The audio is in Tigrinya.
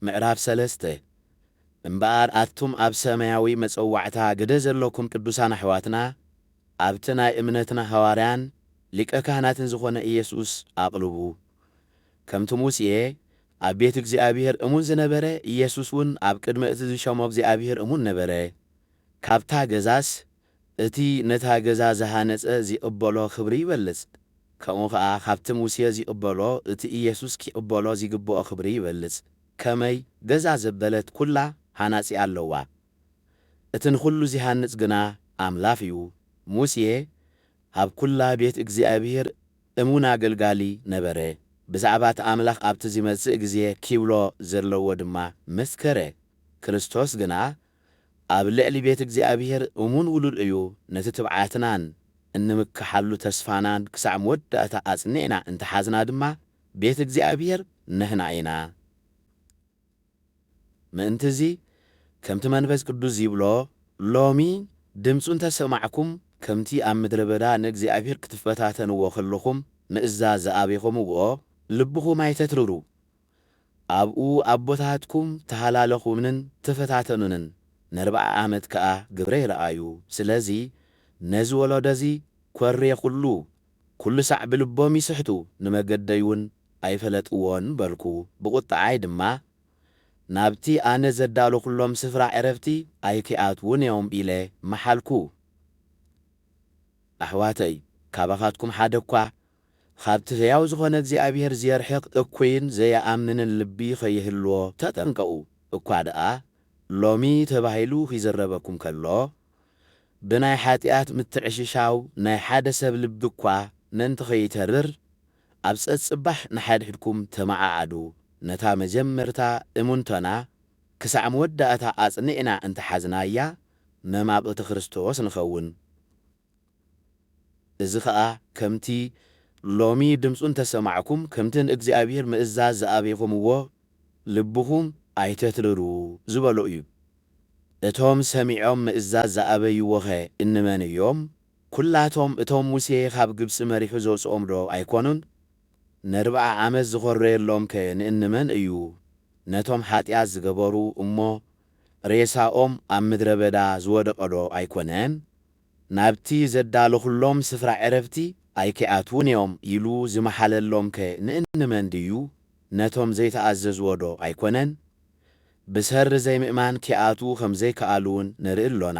ምዕራፍ ሰለስተ፣ እምበኣር ኣቱም ኣብ ሰማያዊ መጸዋዕታ ግደ ዘሎኩም ቅዱሳን ኣሕዋትና፣ ኣብቲ ናይ እምነትና ሃዋርያን ሊቀ ካህናትን ዝኾነ ኢየሱስ ኣቕልቡ። ከምቲ ሙሴ ኣብ ቤት እግዚኣብሔር እሙን ዝነበረ፣ ኢየሱስውን ኣብ ቅድሚ እቲ ዝሸሞ እግዚኣብሔር እሙን ነበረ። ካብታ ገዛስ እቲ ነታ ገዛ ዝሃነጸ ዚቕበሎ ኽብሪ ይበልጽ፣ ከምኡ ኸኣ ኻብቲ ሙሴ ዚቕበሎ እቲ ኢየሱስ ኪቕበሎ ዚግብኦ ኽብሪ ይበልጽ። ከመይ፣ ገዛ ዘበለት ኵላ ሃናጺ ኣለዋ፣ እቲ ንዅሉ ዚሃንጽ ግና ኣምላኽ እዩ። ሙሴ ኣብ ኵላ ቤት እግዚኣብሄር እሙን ኣገልጋሊ ነበረ፣ ብዛዕባ እቲ ኣምላኽ ኣብቲ ዚመጽእ ግዜ ኪብሎ ዘለዎ ድማ መስከረ። ክርስቶስ ግና ኣብ ልዕሊ ቤት እግዚኣብሔር እሙን ውሉድ እዩ፣ ነቲ ትብዓትናን እንምክሓሉ ተስፋናን ክሳዕ መወዳእታ ኣጽኒዕና እንተ ሓዝና ድማ ቤት እግዚኣብሔር ንሕና ኢና። ምእንት'ዚ ከምቲ መንፈስ ቅዱስ ዚብሎ ሎሚ ድምፁ እንተ ሰማዕኩም ከምቲ ኣብ ምድረ በዳ ንእግዚኣብሔር ክትፈታተንዎ ከለኹም ምእዛዝ ዝኣበኹምዎ ልብኹም ኣይተትርሩ፣ ኣብኡ ኣቦታትኩም ተሃላለኹንን ተፈታተኑንን ነርብዓ ኣመት ከኣ ግብረይ ረኣዩ ስለዚ ነዚ ወሎዶ እዚ ኮርየኹሉ ኩሉ ሳዕ ብልቦም ይስሕቱ ንመገደይ ውን ኣይፈለጥዎን በልኩ ብቁጥዓይ ድማ ናብቲ ኣነ ዘዳሎኹሎም ስፍራ ዕረፍቲ ኣይኪኣትዉን እዮም ኢለ መሓልኩ ኣሕዋተይ ካባኻትኩም ሓደኳ ኻብቲ ህያው ዝዀነ እግዚኣብሄር ዜርሕቕ እኩይን ዘይኣምንን ልቢ ኸይህልዎ ተጠንቀቑ። እኳ ደኣ ሎሚ ተባሂሉ ኺዝረበኩም ከሎ፣ ብናይ ሓጢኣት ምትዕሽሻው ናይ ሓደ ሰብ ልቢ እኳ ምእንቲ ኸይተርር፣ ኣብ ጸጽባሕ ንሓድሕድኩም ተመዓዓዱ። ነታ መጀመርታ እምንቶና ክሳዕ መወዳእታ ኣጽኒዕና እንተ ሓዝናያ፣ መማቕልቲ ክርስቶስ ንኸውን። እዚ ኸኣ ከምቲ ሎሚ ድምፁ እንተ ሰማዕኩም፣ ከምቲ ንእግዚኣብሄር ምእዛዝ ዝኣበኹምዎ፣ ልብኹም ኣይተትርሩ ዝበሎ እዩ። እቶም ሰሚዖም ምእዛዝ ዝኣበይዎኸ እንመን እዮም? ኵላቶም እቶም ሙሴ ኻብ ግብፂ መሪሑ ዘውፅኦምዶ ኣይኰኑን? ነርብዓ ዓመት ዝዀረየሎምከ ንእንመን እዩ? ነቶም ሓጢኣት ዝገበሩ እሞ ሬሳኦም ኣብ ምድረ በዳ ዝወደቐዶ ኣይኰነን? ናብቲ ዘዳለኹሎም ስፍራ ዕረፍቲ ኣይኪኣትዉን እዮም ኢሉ ዝመሓለሎምከ ንእንመን ድዩ? ነቶም ዘይተኣዘዝዎዶ ኣይኮነን? ብሰሪ ዘይምእማን ኪኣትዉ ከም ዘይከኣሉውን ንርኢ ኣሎና።